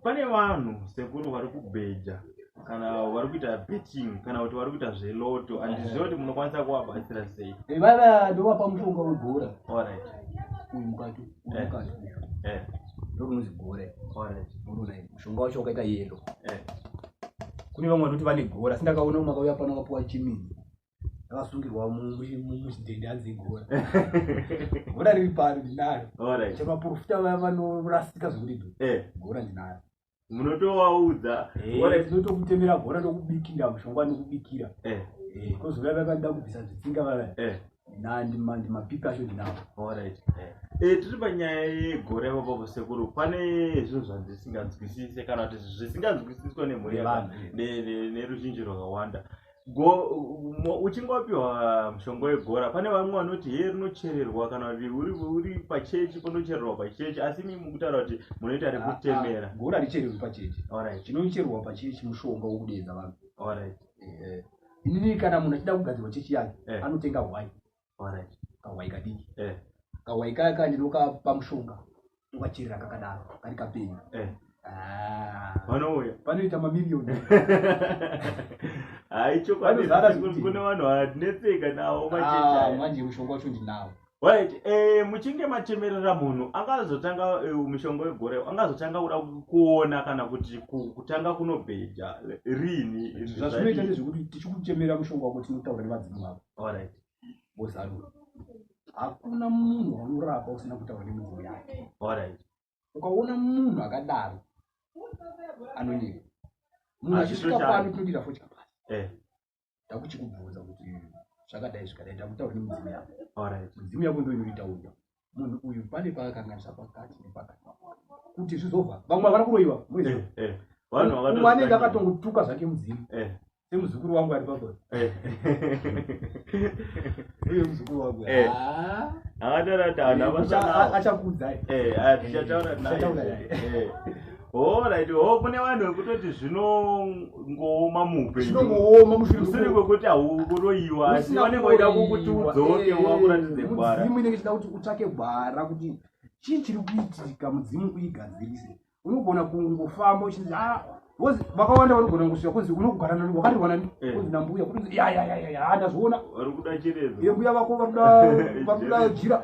pane vanhu sekuru vari kubheja kana vari kuita betting kana kuti vari kuita zveloto andiziva kuti munokwanisa kuvabatsira sei ivava eh, ndovapa mushonga wegora orit uyu mukati eh. mukati eh. ndokunonzi gore orit muruna mushonga wacho wakaita yelo kune vamwe vanoti vane gora asi ndakaona makauya pano vapuwa chimini yakasungirwa mudhende hanzi igora gora riri pano ndinaro chemaporofita vaya vanorasika zvekuti eh. gora ndinaro munotovaudza eh, tinotokutemera gora tokubikira mushonga nekubikira eh. kozouya vakaenda kubvisa zvitsinga vaya ndimapipi acho ndinavo tiri panyaya yegora ipapo sekuru pane zvinhu zvandisinganzwisise kana kuti zvisinganzwisiswa nemhuri neveruzhinji rwakawanda uchingopiwa mushonga wegora pane vamwe vanoti hee rinochererwa kana kuti uri pachechi panochererwa pachechi asi mi mukutaura kuti munoita rekutemera ah, ah, gora richererwi pachechi orit chinochererwa pachechi mushonga wekudeedza vanhu orit eh, eh. inini kana munhu achida kugadzirwa chechi yake eh. anotenga hwai Alright. kahwai kadiki Eh. kahwai kaya ka ndinokapa mushonga ndokachirira kakadaro kari kapenyu Eh. Ah, Vanouya. panoita mamirioni Hai chokwadi Vanozara kuti kuti- kune vanhu vanetseka nawo Ah, macheta. aya. manje mushonga wacho ndinawo Right, eh muchinge matemerera munhu angazotanga eh, mushonga wegore angazotanga kuda kuona kana kuti ku- kutanga kunobheja rini zvazvinoita ndezvekuti tichikuchemera mushonga wako tinotaura nevadzimu vako Alright. Wozarura. Hakuna munhu waunorapa usina kutaura nemunhu yake. Alright. Ukaona munhu akadaro anonyeba. Munhu Ah, achisvika zvichosha. pano tinodira fo chapasi. Eh. Ndakuchikubvunza kuti zvakadai zvikadai ndakutaura nemudzimu yako. Alright. Mudzimu yako ndoinoita uya. munhu uyu pane paakakanganisa pakati nepakati kuti zvizobva vamwe havana kuroyiwa eh, eh. umwe anenge akatongotuka zvake mudzimu eh. semuzukuru wangu ari pako uye muzukuru wangu aataura kuti achakudza achataura Alright, oh kune vanhu vekutoti zvinongooma muupenyu. Zvinongooma mushure mushure kwekuti hauroyiwa asi vanenge vaida kukuti udzoke eh, wakuratidze gwara. Mudzimu inenge ichida kuti utsvake gwara kuti chii chiri kuitika mudzimu kuigadzirise. Unogona kungofamba uchinzi ah because vakawanda vanogona kungosvika kunzi unogara nani wakati wanani eh. kunzi nambuya kuti ya ya ya ya ndazviona. Vari kuda chiredzo. Mbuya vako vari kuda vari kuda jira.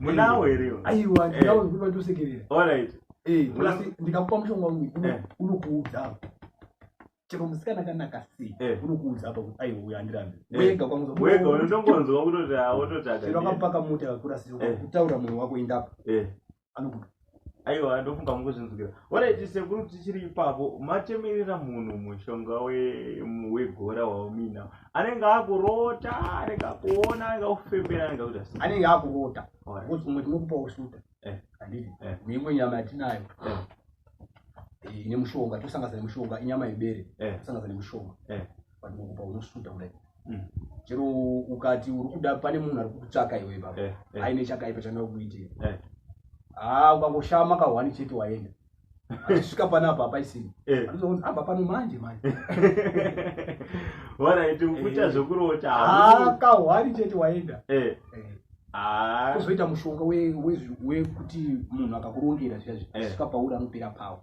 munawo here iwe aiwa Eh. ndinawo zvekuti vandiusekerera alright Eh, Muna- asi ndikakupa mushonga uyu uno- Eh. unokuudza apa chero musikana kanaka sei Eh. unokuudza apa kuti aiwa uyu andirambe Eh. wega kwangu wega unotongonzwa kutoti awototaga chero akapaka mota yakakura sei Eh. kutaura moyo wako indapo Eh. anokuti aiwa ndofunga mukuzvinzwira oraiti sekuru tichiri ipapo matemerera munhu mushonga wegora waumiina anenge akurota anenge akuona anenge akufembera anenge akuta anenge akurota bcause umwe tinokupa usuta eh. anditi eh. neimwe nyama yatinayo eh. ine mushonga tosangasa nemushonga inyama yebere tosangasa nemushonga but munhu paunosvuta kudai Mm. chero ukati uri kuda pane munhu ari kukutsvaka iwe baba Eh, eh. aine chakaipa chanoda kukuitira Eh, haa ukangoshaya makahwani chete waenda achisvika panapa hapaisini eh. anozoona abva pano manje manje Wona iti ukuita Eh. zvekurota haa hamusi- kahwani chete waenda Eh, Eh, ah, kuzoita mushonga we- wezvi- wekuti munhu akakurongera zviya Eh. zvisvika pauri anopera pawo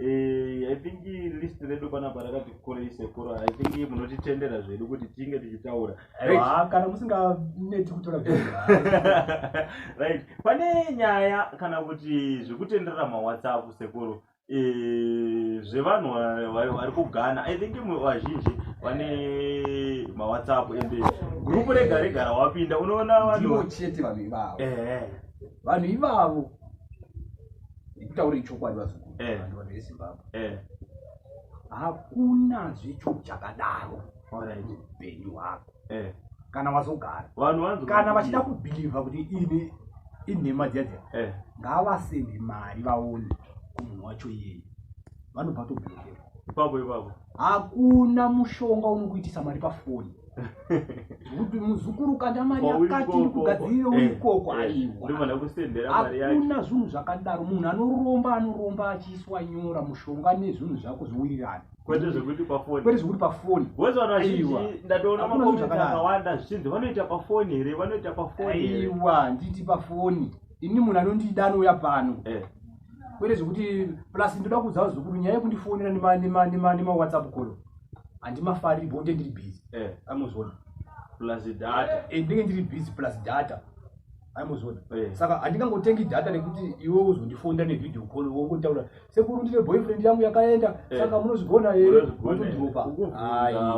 Eh, i think list redu panapa rakati kurei sekuru i think munotitendera zvedu kuti tinge tichitaura kana musinganeti kutora right pane nyaya kana kuti zvekutenderera mawhatsapp sekuru eh, zvevanhu vari kugana i think vazhinji vane mawhatsapp ende gurupu rega rega rawapinda unoona vanhu chete vanhu ivavo eh, eh. vanhu ivavo ndikutaurei chokwadi vazukuru Eh. vanhu vanhu vezimbabwe Eh, hakuna zvecho chakadaro alright. upenyu hwako Eh, kana wazogara vanhu vanzi kana vachida kubhilivha kuti ine inhema dziya dziya Eh, ngavasende mari vaone kumunhu wacho iyeye vanobva tobhilivhera ipapo ipapo hakuna mushonga unokuitisa mari pafoni kuti muzukuru kanda mari yakati iri kugadzirira uri ikoko eh, eh, aiwa hakuna zvinhu zvakadaro munhu anoromba anoromba achiiswa nyora mushonga nezvinhu zvako zvowirirana kwete zvekuti pafoni kwete zvekuti pafoni wese vanhu vazhinji ndatoona makomenti akawanda zvichinzi vanoita pafoni here vanoita pafoni aiwa nditi pafoni ini munhu anondida anouya pano eh. kwete zvekuti plus ndoda kuudzawo zvekuru nyaya yekundifonera nemawhatsapp call handimafariri bonde ndiri busy eh. amozona plus data eh, ndinenge ndiri busy plus data aimozona eh. saka handingangotengi data nekuti iwe uzondifonda nevideo call wongotaura sekuru ndine boyfriend yangu yakaenda eh. saka munozvigona here otodropa ayiaaa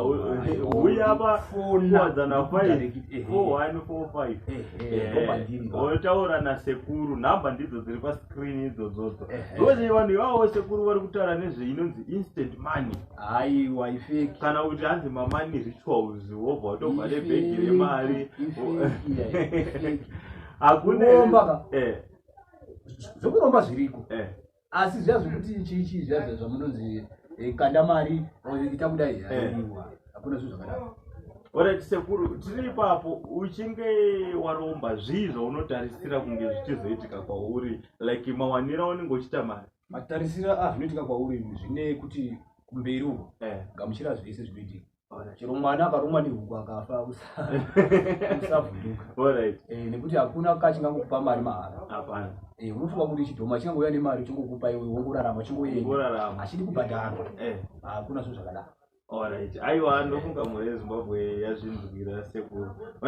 wotaura eh, nasekuru nhamba ndidzo dziri pascreen idzodzodzo ndokuti vanhu ivavo sekuru vari kutaura nezve inonzi instant money haiwa ifeki kana kuti hanzi mamani rituals wobva watobva nebhegi remari hakuneomba eh. zvekuromba zviriko eh. asi zviya zvekuti chii chii zviya zviya zvamunonzi eh, kanda mari or ita kudai Eh. haadiwa hakuna zvinhu zvakadaro Alright, sekuru tiri ipapo uchinge waromba zvii zvaunotarisira kunge zvichizoitika kwauri like mawanira aunenge uchiita mari matarisiro azvinoitika kwauri zvine kuti kumberi uko Eh, gamuchira zvese zvinoitika Ona, chero mwana akarumwa nehuku akafa usa- usavhunduka Alright. Eh, nekuti hakuna ka chingangokupa mari mahara Hapana. Eh, unofunga kuti chidhoma chingangouya nemari chingokupa iwe wongorarama chingoenda Kurarama. achidi kubhadharwa Eh. hakuna zvinhu zvakadaro Alright. Aiwa ndofunga mhuri yeZimbabwe yazvinzwira sekuru.